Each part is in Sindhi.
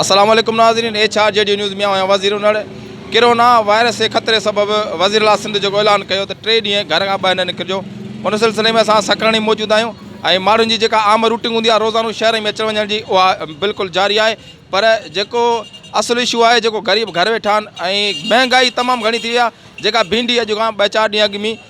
السلام عليڪم ناظرين H R G D news ميان هيان وزير انڙ ڪرونا وائرس جي خطري سبب وزيراعليٰ سنڌ جيڪو اعلان ڪيو ته ٽي ڏينهن گهر کان ٻاهر نه نڪرجو ان سلسلي ۾ اسان سکرڻي موجود آهيون ۽ ماڻهن جي جيڪا عام روٽنگ هوندي آهي روزانو شهرن ۾ اچڻ وڃڻ جي اها بلڪل جاري آهي پر جيڪو اصل اشو آهي جيڪو غريب گهر ويٺا آهن ۽ مهنگائي تمام گهڻي ٿي وئي آهي جيڪا ڀينڊي اڄ کان ٻه چار ڏينهن اڳ مي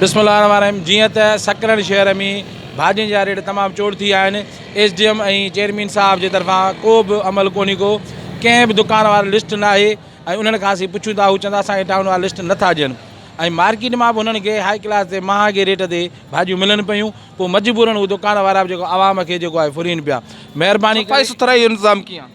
بسم الله الرحمٰن الرحيم جيئن ته سڪرنڊ شهر ۾ ڀاڄين جا ريٽ تمام چور ٿي ويا آهن ايس ڊي ايم ۽ چيئرمين صاحب جي طرفان ڪو به عمل ڪونهي ڪو ڪنهن به دڪان واري لسٽ ناهي ۽ انهن کان اسين پڇون ٿا هو چون ٿا اسان کي ٽائون وارا لسٽ نٿا ڏين ۽ مارڪيٽ مان به انهن کي هائي ڪلاس تي مهانگي ريٽ تي ڀاڄيون ملن پيون پوء مجبورن هو دڪان وارا به جيڪو عوام کي جيڪو آهي ڦرين پيا مهرباني ڪري صفائي سٿرائي جو انتظام ڪيئن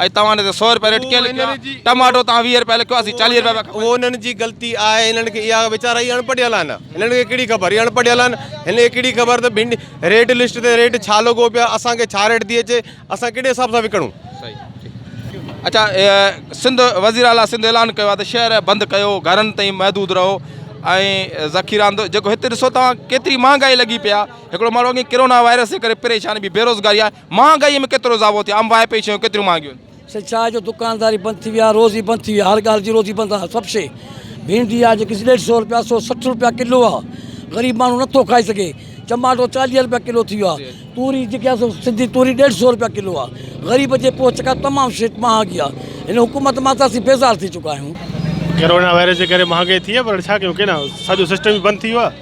اڄ توهان انهن تي سؤ روپيه ريٽ ڪيئن لکيو آهي؟ ٽماٽو توهان ويهه روپيه لکيو آهي، اسين چاليهه روپيه پيا کائون. اهو انهن جي غلطي آهي، انهن کي اها ويچارا هي اڻپڙهيل آهن، هنن کي ڪهڙي خبر، هي اڻپڙهيل آهن، هنن کي ڪهڙي خبر ته ڀنڊي ريٽ لسٽ تي ريٽ ڇا لڳو پيو آهي، اسان کي ڇا ريٽ ٿي اچي، اسان ڪهڙي حساب سان وڪڻون. اچا سنڌ، وزير اعليٰ سنڌ اعلان ڪيو آهي ته شهر بند ڪيو، گهرن تائين محدود رهو ۽ ذخيرا اندر، جيڪو هت ڏسو توهان ڪيتري مهانگائي لڳي پئي آهي، هڪڙو ماڻهو اڳي ڪرونا وائرس جي ڪري پريشان بي روزگاري آهي، مهانگائيء ۾ ڪيترو اضافو ٿيو آهي؟ آمواهي پئي شيون ڪيتريون مهانگيون آهن؟ سي ڇا آهي جو دڪانداري بند ٿي وئي آهي، روزي بند ٿي وئي آهي، هر ڳالهه جي روزي بند آهي، سڀ شيء ڀينڊي آهي جيڪي ڏيڍ سئو رپيا سئو سٺ رپيا ڪلو آهي، غريب ماڻهو نه ٿو کائي سگهي، چماٽو چاليهه رپيا ڪلو ٿي ويو آهي، توري جيڪي آهي سو سنڌي توري ڏيڍ سئو رپيا ڪلو آهي، غريب جي پهچ کان تمام شيء مهانگي آهي، هن حڪومت مان ته اسين بيزار ٿي چڪا آهيون. ڪرونا وائرس جي ڪري مهانگائي ٿي آهي پر هاڻي ڇا ڪيون ڪيئن نه سڄو سسٽم ئي بند ٿي ويو آهي.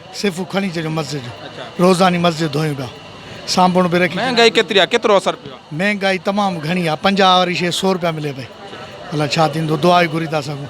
صفو کڻي اچجو مسجد جو روزاني مسجد ڌوئين پيا سانڀوڻ به رکي ڇڏيا. مهنگائي ڪيتري آ ڪيترو اثر پيو آ. مهنگائي تمام گهڻي آ پنجاهه واري شي سو روپيا ملي پئي الا ڇا ٿيندو دعا ئي گهري ٿا سگهون.